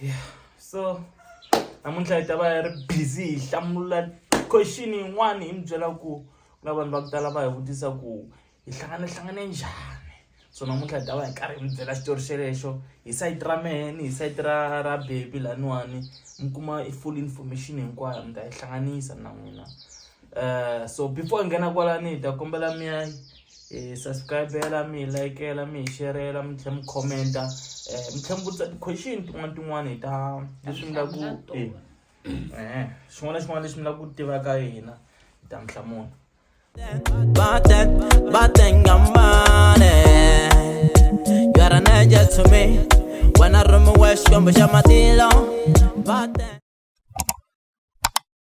yeah so namuntlha hi ta va hi ri busy hi hlamula question yin'wana hi mi byela ku ku na vanhu va ku tala va hi vutisa ku hi hlangane hlangane njhani so namuntlha hi ta va hi karhi hi mi byela xitori xelexo hi sayiti ra meheni hi sayiti ra ra bebi laniwani mi kuma i full information hinkwayo mi ta yi hlanganisa na n'wina Uh, so before nghena kwalani hi ta kombela mi ya hi subscribela mi hi likela mi hi sherela mi tlhela mi commenta um mi tlhela mi vutisa ti-question tin'wana tin'wana hi ta leswi mi laku e xin'wana na xin'wana lexi mi laku ku tiva ka hina hi ta mi hlamula When I run my way, she gon' be shot my deal on.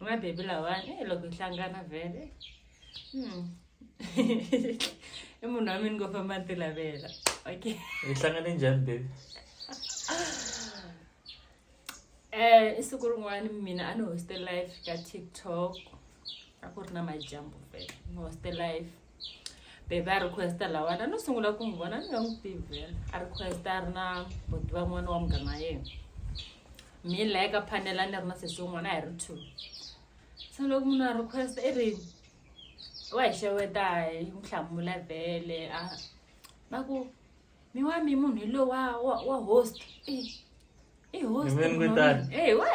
mabebi lawani eh, loko hi hlangana vhele hmm. i munhu wa mina ngo famba ni tilavela okay hi hlangane njhani bebi um i siku rin'wana mina a ni hoste life ka tiktok a ku ri na majambu vhele ni hoste life bebe a requesta lawani a no sungula ku n'wi vona ni nga n'wi tivi vhela a requesta a ri na boti va n'wana wa mugama yena mi laya ka phanela ni ri na sesi wun'wana a hi ri two se loko munhu a requesta i ri wa hi xeweta hi n'wi hlamula vhele a va ku mi wa mi munhu hi lowu wa wa wa host i i host Ni mi n'wi tani. eyi we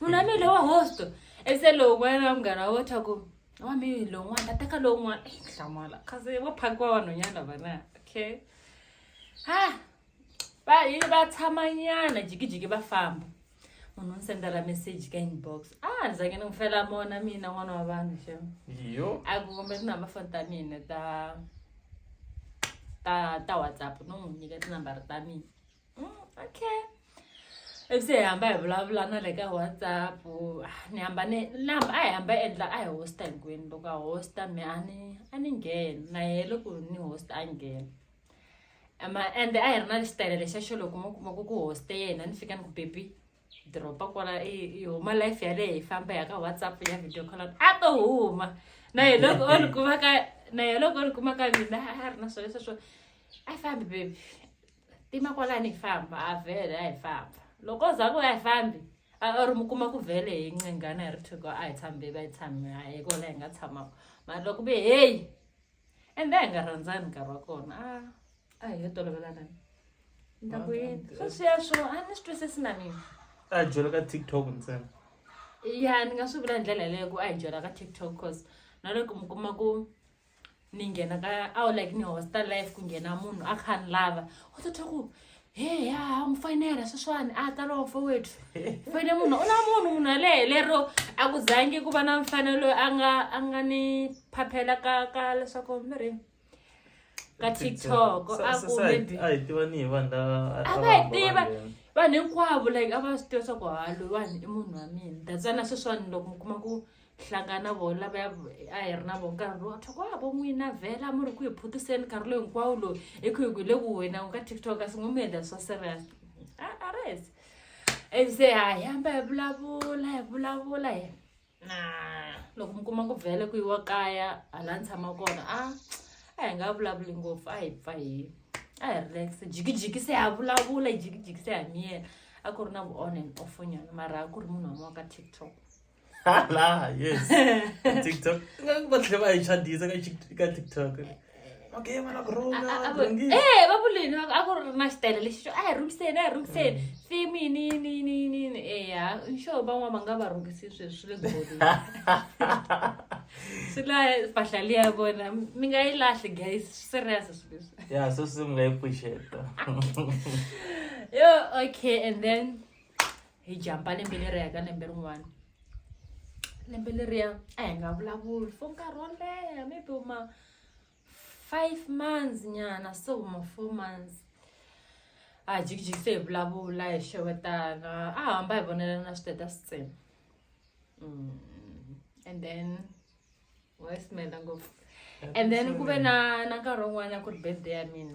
munhu wa mi hi lowu wa host ese lowu n'wana wa mugana wo twa ku wa mi lowun'wana a teka lowun'wana eyi hlamala kasi vo phakiwa vanhwanyana vana okay ha va yini va tshamanyana jikijiki va famba munhu ni sendela message ka inbox a ni zange ni n'wi fela mona mina n'wana wa vanhu xem yo a ku kombe tinamba foni ta mina ta ta ta whatsapp no n'wi nyika tinambara ta mina mm, okay ivi se hi hamba hi vulavula na le ka whatsapp ni hamba ni ni hamba a hi hamba yi endla a hi hosta hinkwenu loko a hosta mi a ni a ni ngheni na yehe loko ni hosta a ngheni ma ende a hi ri na xitayele lexa xo loko mo kuma ku ku hoste yena ni fika ni ku baby dropa kwala i huma life yaleyo hi famba ya ka whatsapp ya video call a to huma na ye loko o ni kuma ka na ye loko o ni kuma ka mina a ri na swona sweswo a fambi baby tima kwalani hi famba a vhele a hi famba loko za ku a hi fambi a ri mi kuma ku vhele hi ncingana hi ri thiko a hi tshami bebi a hi tshami a hi kona hi nga tshamaka mara loko ve heyi ende a hi nga rhandzani nkarhi wa kona a a hi yo tolovelanani ni ta ku yini swo sweswo a ni swi twisisi na mina a hi byela ka tiktok ntsena ya ni nga swi vula hi ndlela yeleyo ku a hi byela ka tiktok cause na loko mi kuma ku ni nghena ka a wu like ni hosta life ku nghena munhu a kha ni lava u ta twa ku he ya mu foyinela sweswiwani a ta lowo fo wethu foyine munhu u na munhu munhu yaleyo lero a ku zangi ku va na mfanelo loyi a nga a nga ni phaphela ka ka leswaku mi ri ka tiktok a ku maybe a hi tiva ni hi vanhu lava a A va va hi hamba tiva. va nghena. vanhu hinkwavo like a va swi tiva swa ku ha loyiwani i munhu wa mina datsana sweswiwani loko mi kuma ku hlangana na vona lava a hi ri na vo nkarhi lowu thoko a vo n'wina vhela mu ri ku hi phutiseni nkarhi lowu hinkwawo lowu hi ku hi ku le ku wena u ka tiktok kasi ngo mi endla swa serious a ri hesi and se ha hi hamba hi vulavula hi vulavula hi na loko mi kuma ku vhele ku yiwa kaya hala ni tshama kona a a hi nga vulavuli ngopfu a hi pfa hi a hi relax jikijiki se ha vulavula jikijiki se ha miyela a ku ri na vu-on and offonyana mara a ku ri munhu wa maka tiktok hala yes tiktok va tlhe va hi chadisa ka tiktok okay vana ku rhungae eh, va vulini a ku ri na xitele lexi xo a hi rhungiseni a hi rhungiseni mm. fimi ni ni ni ni ni eya xo van'wana va nga va rhungisi swi swi le goli swi la mpahla liya vona mi nga yi lahli guys serious swi leswi ya so swi mi nga yi pfuxeta yo okay and then hi jampa lembe leri ya ka lembe rin'wana lembe leriya a hi nga vulavuli for nkarhi wo leha maybe ma five months nyana so ma four months a hi jikijikise hi vulavula hi xewetana a hamba hi vonelana na switeta switsena mm, and then wayismela ngopfu and then ku ve na na nkarhi wun'wana ku ri birthday ya mina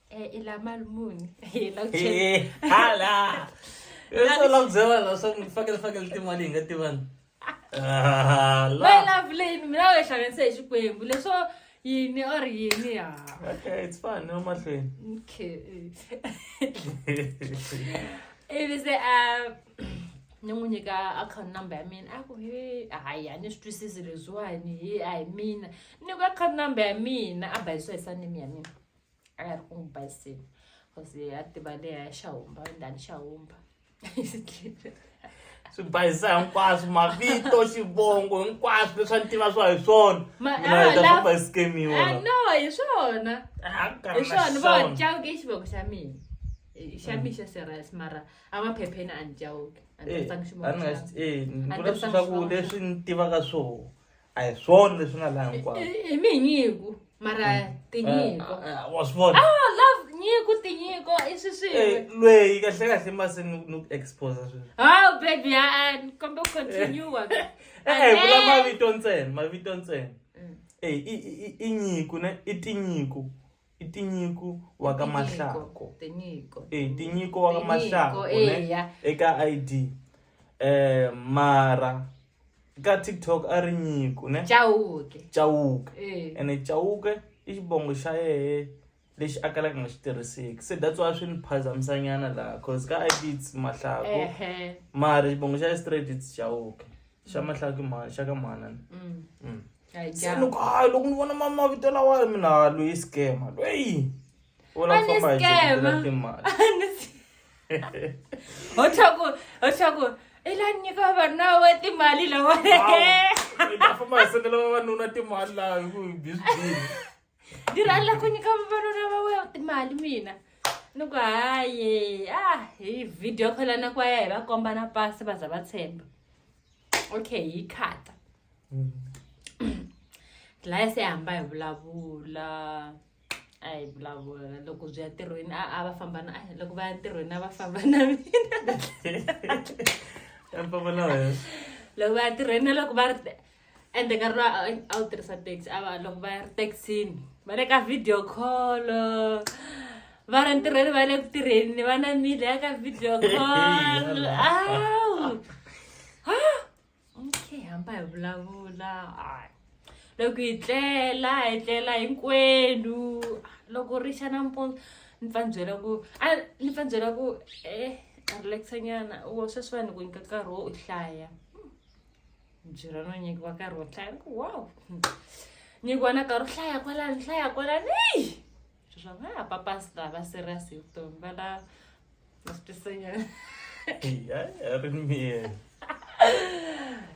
Eh, ila mali muni hala so long zewala so mi fakele fakele timali hi nga tivani ah, mayilavuleni mina we xavenise hi xikwembu leswo yini or yini ya okay it's fine no mahlweni okay ivi se um ni n'wi nyika account number ya mina a ku he hayi a ni swi twisisi leswiwani he a hi mina ni ku account number ya mina a bayisiwa hi sanimi ya mina a ya ri ku n'wi baseni cause ya tiva leya xa humba ndani xa humba swi bayisa hinkwaswo mavito xivongo hinkwaswo leswi a ni tiva swa hi swona minaaamba hi skemiwa no hi swona hi swona va cawuke xivoko xa mina xa mm. mixa serious mara amaphepheni a ni cawuke eh, eh, leswi ni tivaka swona a hi swona leswi nga laha hinkwavo I- i minyiko mara tinyiko Eh, eh, wa swi vona ah love nyiko tinyiko i swi swin'we Eh, lweyi kahle kahle mase ni ni ku expose sweswi oh baby a kombe ku continue wa mina. e-e vula Amen. mavito ntsena mavito ntsena Mm. e i- i- i- i nyiko ne i tinyiko i tinyiko wa ka mahlako e tinyiko wa ka mahlako eka id eh mara ka tiktok a ri nyiko ne chauke chauke ene chauke i xibongo xa yehe lexi a kalaka nga xi tirhiseki se that's why swi ni phazamisanyana laha cause ka id its mahlako mara xibongo xa ye straight its chauke xa mahlaki mhani xa ka mhana mm. mm. se loko hayi loko ni vona mavito lawa mina loyi scama loyi u lava ku famba hi jele timali ho tlhaku ho tlhaku i la nyika vavanuna wa timali lawa famba hi sendela vavanuna timali laha hi ku hi bizibini ni rhandza ku nyika vavanuna va weya timali mina ni ku hayi a ah, hi video khola na ku ya hi va komba na pasi va za va tshemba okay yi khata mm. laya se hamba hi vulavula a hi vulavula loko byi ya ntirhweni a a va famba na loko va ya ntirhweni a va famba na mina loko va ya ntirhweni na loko va ri ende nkarhi lowu a wu tirhisa taxi a va loko va ya ri taxini va le ka video call va ri ntirhweni va le ku tirheni va na mile ya ka video call awu okay hamba hi vulavula loko hi tlela hi tlela hinkwenu loko ri xa nampundzu ni pfa ni byela ku a ni pfa ni byela ku eh relaxanyana wo sweswiwani ku nyika nkarhi wo u hlaya njirano nyingi vakarwa hlaya wow nyingi wana karo hlaya kwalani hlaya kwalani ei zvo zva va papasita va serious hi vutomi va la vasitisenyana ri miyena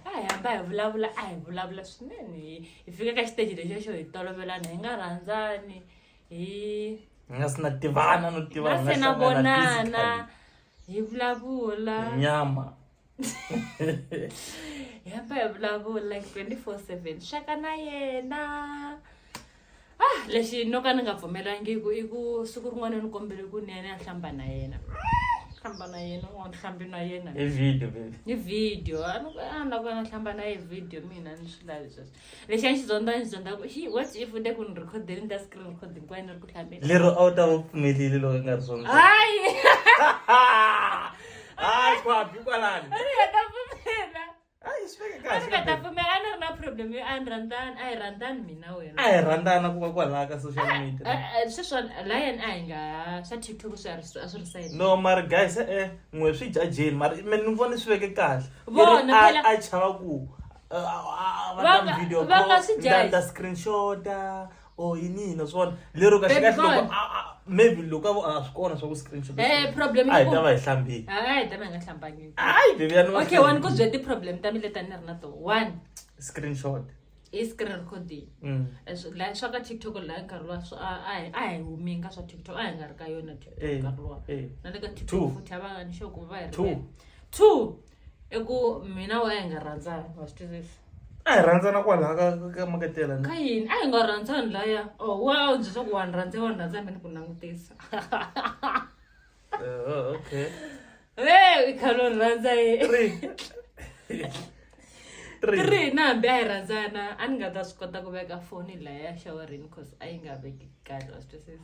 a hi hamba hi vulavula a hi vulavula swinene hi hi fika ka xiteji lexo xo hi tolovelana hi nga rhandzani hi hi nga si na tivana no tiva hi nga na se na hlangana vonana physically. hi vulavula nyama hi hamba hi vulavula like 24 7 xaka na yena ah lexi no ka ni nga pfumelangiku i ku siku rin'wana ni kombele ku ni ya ni ya hlamba na yena hlamba na yena un'wana hlambi na yena hi video baby hi video a ni ku a ni lava ku ya na hlamba na ye video mina ni swi lavi sweswo lexi a xi zonda ni zonda ku xi what if u te ku ni rhikhodeni ni ta screen rhikhodeni ku va ni ri ku hlambela lero a wu ta va pfumelile loko i nga ri zonda hayi hayi kwabi kwalani a ni nga ta pfumela a yi swi veke a ni nga ta kahle pfumela a ni ri na problem yo a ni rhandzani a hi rhandzani mina a wena hi rhandzana ku va kwalaha ka social media Eh, eh, sweswa lion a hi nga swa tiktok swi a ri- a swi ri sayini no mara guys e-e n'we swi jajeni mara me ni vone swi veke kahle Vona Leri a- phela- a chava ku uh, uh, uh, Vanga- video call, vanga si judge. nda screenshota or inini naswona lero Baby kaxikaxi loko boy. a- a- maybe loko a vo a swi kona swa ku screenshot Eh, problem a hi yi ta va ku- hi hlambile hayi ta mi nga hlambangi hayi bebi ya ni okay one ku byela ti-problem ta mi leti a ni ri na to one screenshot i screen recording Mm. Eh, swi- la swa ka tiktok la nkarhi luwa swi- a- a hi- a hi humi ka swa tiktok a hi nga ri ka yona tiktok Eh, nkarhi luwa eh. na le ka Two. tiktok futhi a va nga ni xoko va hi Two. rivele. two i ku mina wena hi nga rhandzani wa swi twisisa a hi rhandzana kwalaha ka ka makatela ka yini a hi nga rhandzani laya o wa byi swa ku wa ni rhandza wa ni rhandza mina ku langutisa eh, okay e i khalo ni rhandza ye three na hambi a hi rhandzana a ni nga ta swi kota ku veka foni laya shawarini cause a yi nga veki kahle wa swi twisisa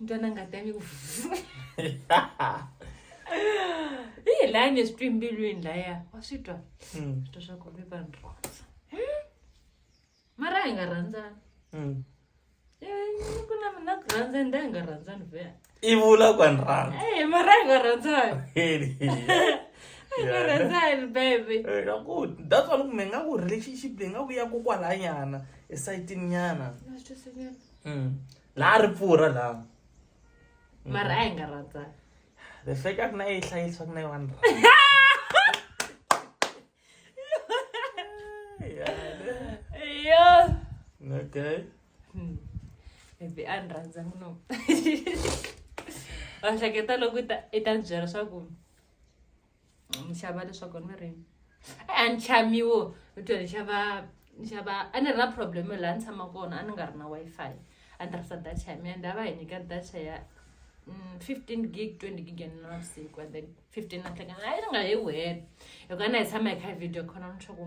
ntwana ngati ya mi ku hi laya ni swi twi mbilwini laya wa swi twa hmm. swi twa swa ku mi va ni rhandza hmm? mara hi nga rhandzana hmm. eh, ku na mina ku rhandza nda hi nga rhandzani ve i vula ku ni rhandza e mara hi nga rhandzani hi nga rhandzani bebe eh, that's why loko mi nga ku relationship leyi nga ku ya kokwalanyana esayitini nyana laha ri pfurha laha mm-hmm. mara a hi nga rhandzani the fact a ku na yi hlayisa ku na yi one okay hmm. maybe a ni rhandza muno wa hleketa loko i ta byela swa ku ni xava leswaku ni ri a ni chamiwo ni twe ni xava ni xava a ni ri na problem yo laha ni tshama kona a ni nga ri na wi-fi a ni tirhisa data ya mina and a va hi nyika data ya mm, fifteen gig twenty gig ya nina navusiku and then fifteen na nhlekani a yi ni nga yi wena hikuva na hi tshama hi kha hi video khona ni swa ku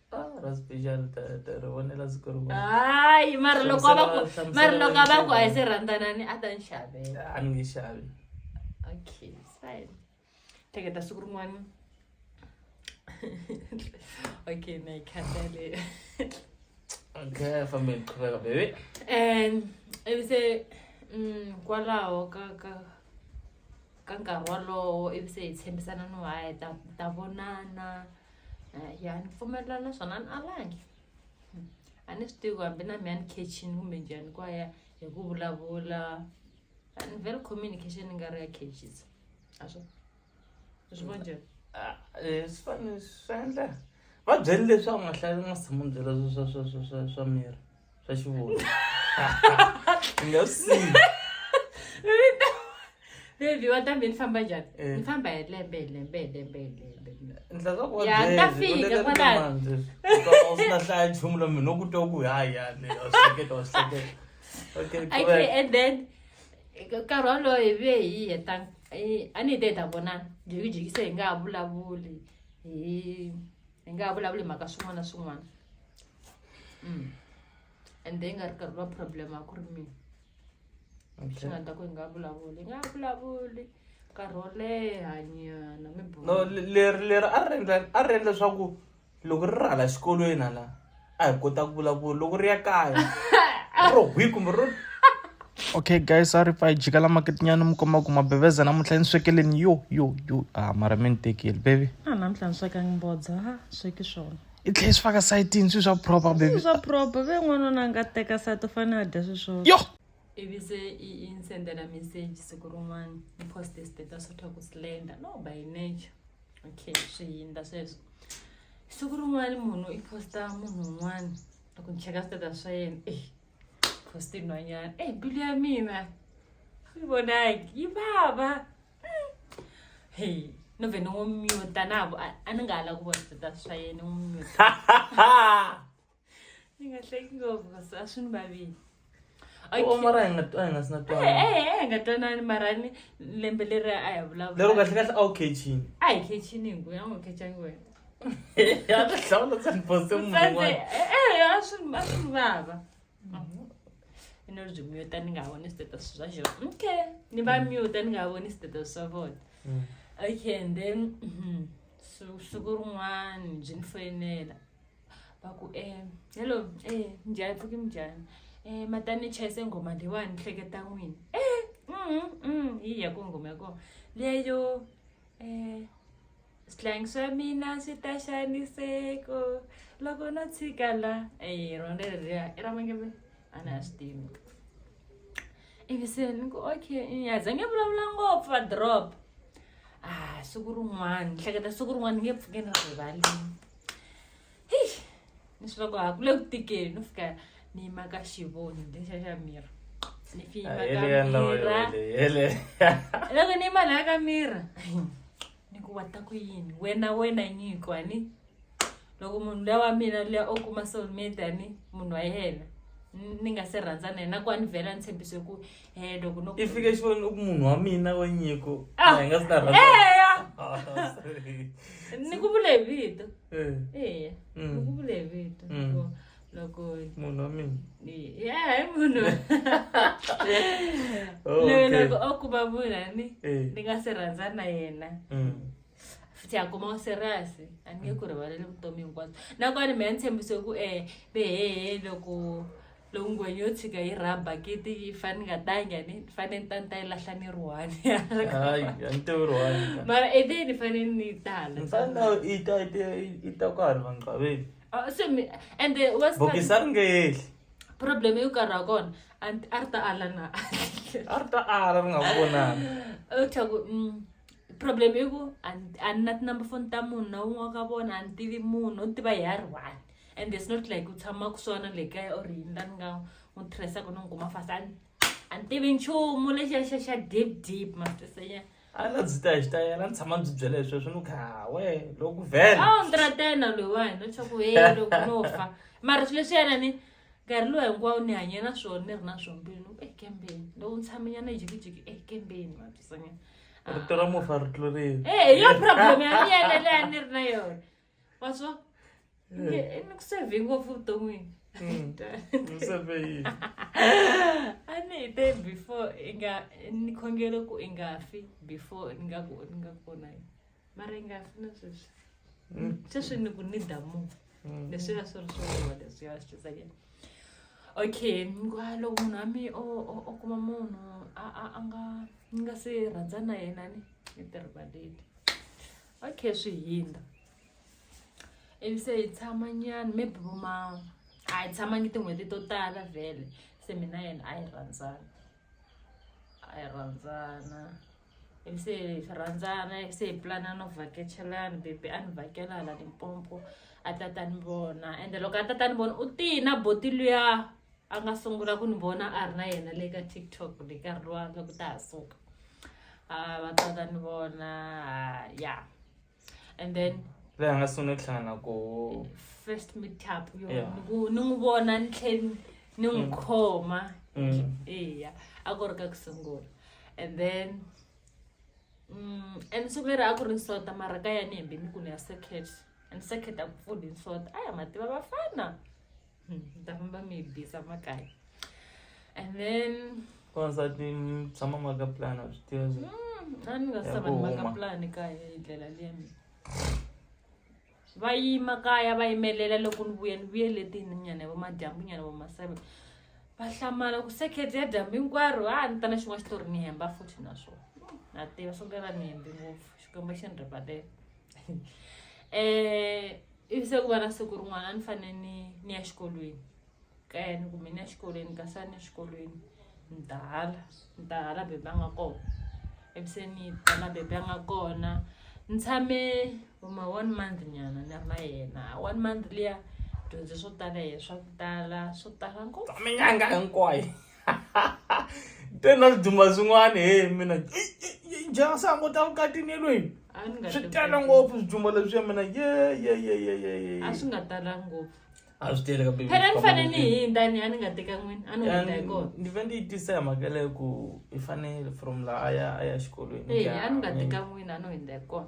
hayi mara loko a va ku mara loko a va ku a hi se rhandzanani a ta ni xavela a ni nge xavi okay fine teketa siku rin'wana okay na yi khatale okay fambe ni qhubeka bebe and ivi se mm, kwalaho ka ka ka nkarhi wolowo ivi se hi tshembisana no haya ta ta vonana ya ni pfumelelana na swona a ni alangi Hmm. a ni swi tivi ku hambi na mi a ni khechini kumbe njhani kwaya hi ku vulavula a ni vheli communication ni nga ri ya khechisa a swi swi vona njhani Ah, eh, swi fane- swi endla va byele leswaku mahlaya u nga tshama u byela swa- swa- swa- swa- swa- swa miri swa xivundza ni nga swi siyi baby wa ta mi ni famba njhani Eh. ni famba hi lembe hi lembe hi lembe hi lembe ndla ka ku Ya, ta fika kwalano. sina hlaya nchumu lomi no ku twa ku hayi yani wa swi hleketa wa swi hleketa okay okay correct and then nkarhi wolowo hi ve hi heta hi- a ni hi te hi ta vonana jikijikise hi nga ha vulavuli hi hi nga ha vulavuli mhaka swin'wana na swin'wana mm. and then nga ri karhi va problem a ku ri mina swi nga ta ku hi nga vulavuli hi nga vulavuli nkarhi wo leha nyana mi no leri leri a ri endla a ri endla leswaku loko ri ri hala xikolweni hala a hi kota ku vulavula loko ri ya kaya ro hwi kumbe ro okay guys a ri pfa hi jika la maketinyana mi komba ku mabeveza namuntlha yi ni swekeleni yo yo yo a mara mi ni tekeli bebi a namuntlha ni swekangi mbodza ha sweki swona i tlhela swi faka sayitini swi swa proper bebi swa proper ve n'wana ona nga teka sayiti u fanele a dya swi swona yo ivi se i i ni sendela message siku rin'wana ni poste status swa ku slender no by nature okay swi hindza sweswo siku rin'wana munhu i posta munhu un'wana loko ni cheka stata swa yena e posti nhwanyana e mbilu ya mina yi vonaki yi vava hmm. he no vhe ni n'wi myuta na a ni nga ha la ku vona stata swa yena ni n'wi myuta Ni nga hleki ngopfu kasi a swi ni vavile Okay. u mara hi nga a hi nga si na twana ehe hi nga twanani mara ni lembe leri a hi lero vulavula kahle kahle a wu khechini a hi khechini hingu ya n'wi khechangi wena ya ta hlawula ku ni poste munhu Mfana, un'wana eh, eh, a swi a swi ni vava i no byi muta ni nga ha voni status swa xona okay ni va muta ni nga ha voni status swa vona Mm. okay and then mhm, su- siku rin'wani byi ni foyinela va ku um hello um njhani pfuki minjhani um matani ni chayise nghoma leyiwani ni hleketa n'wini um hi ya ko nghoma ya kona leyo um switlhangi swa mina swi ta xaniseko loko no tshika la e rona leriya i ra mangeve a ni a swi tivi ivi se ni ku okay a za nge vulavula ngopfu va drop a ah, siku rin'wana ni hleketa siku rin'wana ni nge pfuke ni rivalini heyi ni swi va ku ha ku le ku tikeni no fika ni yima ka xivoni lexa xa mira ni fi yima ka mira loko ni yima laya ka mira ni ku wa ta ku yini wena wena nyiko ani loko munhu luya wa mina luya o kuma soulmate ani munhu wa yena ni nga se rhandza na yena ku a ni vhela ni tshembise ku Eh, loko no i fike xivoni loko munhu wa mina wa nyiko Ah, a hi nga si ta rhandza eya Ah, sorry. ni ku vule hi vito Eh, eya Mm. ni ku vule hi vito Mm. loko loko munhu wa mina ya hi munhu Oh, loyi okay. loko o kuma munhu ani Eh. ni nga se rhandza na yena Mm. futhi akuma u serious a ni nge ku rivaleli vutomi hinkwabyo nakona mehe ni tshembise ku um behehe loko loko ngwenya yo tshika yi rha bakiti yi fane ni nga tangi ani ni fane ni ta ni ta yi lahla ni ri one hayi a ni tewi ri one mara e then ni fane ni tala ni fane na yi ta yi ta yi ta kwala vanqaveni Ah, se mi and then what's the bokisa ri nge yehli problem yo karhi ha kona a ni- a ri ta ala na a ri ta ala ri nga ku vonanga u thya ku mm, problem i ku a ni- a ni na tinumber phone ta munhu na wun'we wa ka vona a ni tivi munhu u ni tiva hi ya ri one and it's not like u tshama ku swona le kaya or yini la ni nga n'wi tirhisaka ni n'wi kuma fast a a ni tivi nchumu lexiya xa xa deep deep matwisenya a na byi ta hi xitayela ni tshama byi byela hi sweswo ni kha we loku vhela a ni tratena loyiwani no chaku he loko no fa mara swi leswi yana ni nkarhi lowu hinkwawo ni hanye na swona ni ri na swombili ni ku e kembeni loko ni tshamanyana jikijiki e kembeni matwisenya rito ra mufa ri tlurile e yo problem ya ni yeleleya ni ri na yona wanzwa eh. ni ku save ngopfu vuton'wini hmm. a ni hi te before i nga ni khongelo ku i nga fi before ni nga ku ni nga kona yi mara i nga fi na sweswi hmm. sweswi ni ku ni damu hmm. leswi nga swi ri swona leswi ya swi tsakela okay ngwa loko munhu wa mi o kuma munhu a nga ni nga se rhandza na yena ni ni tirhivaleli okay swi hindza ivi se hi tshama nyana maybe vo ma a hi tshamangi tin'hweti to tala vhele se mina yena a yi rhandzana a yi rhandzana ivi se hi rhandzana ivi se hi pulana no vhakachelana bebi a ni vhakela hala limpompo a tata ni vona ende loko a tata ni vona u tihi na boti luya a nga sungula ku ni vona a ri na yena le ka tiktok ni nkarhi lowa nga ku ta ha suka a va tsaka ni vona ya and then leyi a nga sungula ku hlangana ko first meetup yo ni n'wi vona ni tlheni ni n'wi mm. khoma mm. eya a ku ri ka ku sungula and then mm, and siku leri a ku ri nsota mara ka ya ni hembe ni ku ni ya circuit and circuit a ku pfuli nsota a ya mativa vafana Damba mi bisa makaya. And then wansati mi tshama mi nga ka plan a swi tiva swi mm, a ni nga Ya sava ku ni maka huma. plan kaya hi ndlela liya mina va yima kaya va yimelela loko ni vuya ni vuye letini nyana va madyambu nyana va maseve va hlamala ku sekhet ya dyambu hinkwaro a ni ta na xin'wana xitori ni hemba futhi naswona na tiva swo kala ni hembi ngopfu xikwembu xi ni ripatela eh ivi se ku va na siku rin'wana a ni fanele ni ni ya xikolweni kaya ni kumbe ni ya xikolweni ni kasi a ni exikolweni ni ta hala ni ta hala bebe a nga kona ivi se ni ta la bebe a nga kona ni tshame huma one month nyana ni ri na yena one month liya dyondze swo tala hi swa ku tala swo tala ngopfu minyanga hinkwayo te na swidumba swin'wana he mina njhana se a ngo ta vukatini elweni swi tala ngopfu swidumba leswiya mina yeyeyeyeye a swi nga tala ngopfu a swi tele kambe phela ni fanele ni hindza ni ya ni nga teka n'wini a ni hindza hi kona ni ve ni yi tisa hi mhaka leyi ku i fanele from laha a ya a ya xikolweni a ni nga teka n'wini a ni hindza hi kona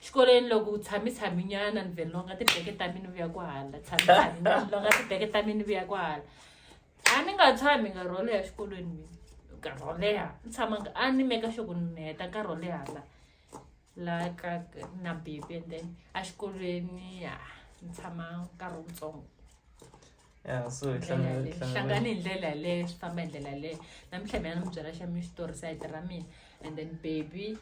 xikolweni loko u tshami tshami nyana ni vhe longa tibeke ta mina vuya ku hala tshami tshami nyana longa tibeke ta mina vuya ku hala a ni nga tshami nga rholo ya xikolweni mina nkarhi wo leha ni tshama nga a ni meka xoko ni heta nkarhi wo leha la la ka na baby and then a xikolweni ya ni tshama nkarhi wutsongo ya so hi Ndlela hlangana- leyi. hlangana- hlangane hi ndlela yaleyo swi famba hi ndlela yaleyo namuntlha mina ni mi byela xa mi xitori sayiti ra mina and then baby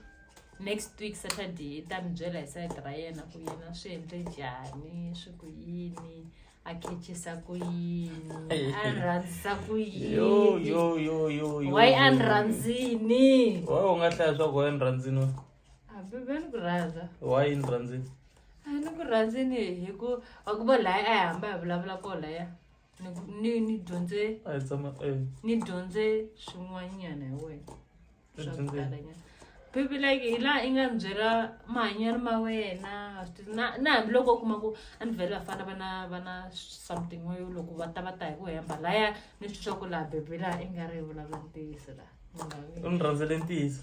next week saturday i ta mi byela hi sayiti ra yena ku yena swi endle njhani swi ku yini a khechisa ku yini a ni rhandzisa ku yo yini yo yo yo yo why a ni rhandzini wa u nga hlaya swa ku wa ni rhandzini hambi ve ni ku rhandza wa yini rhandzini a ni ku rhandzini hi ku wa ku va laya a hi hamba hi vulavula ko laya ni ku- ni ni dyondze a hi tshama eh ni dyondze swin'wanyana hi wena swa ku Dyondze. talanyana baby like hi laha i nga ni byela mahanyelo ma wena wa swi tiva. na na hambiloko u kuma ku a ni vhele vafana va na va na something wayo loko va ta va ta hi ku hemba laya ni swi swa ku laha baby laha i nga ri hi vulavula ntiyiso laha Ni nga ri- u ni rhandzele ntiyiso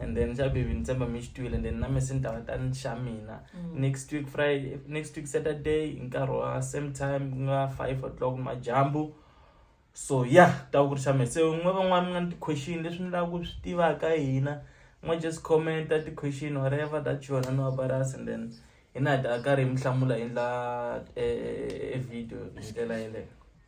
and then xa baby ni tshemba mi xi twile and then na me se ni ta va ta ni xa mina mm. next week friday next week saturday hi nkarhi wa same time ku nga five o'clock majambu so ya yeah, ta ku ri xa me se un'we van'wana mi nga ni ti-question leswi ni lava ku swi tivaka hina ma just commenta ti-question whatever that you wanna know about us and then hina hi ta karhi hi mi hlamula hi ndla eh, eh, eh, video hi ndlela yeleyo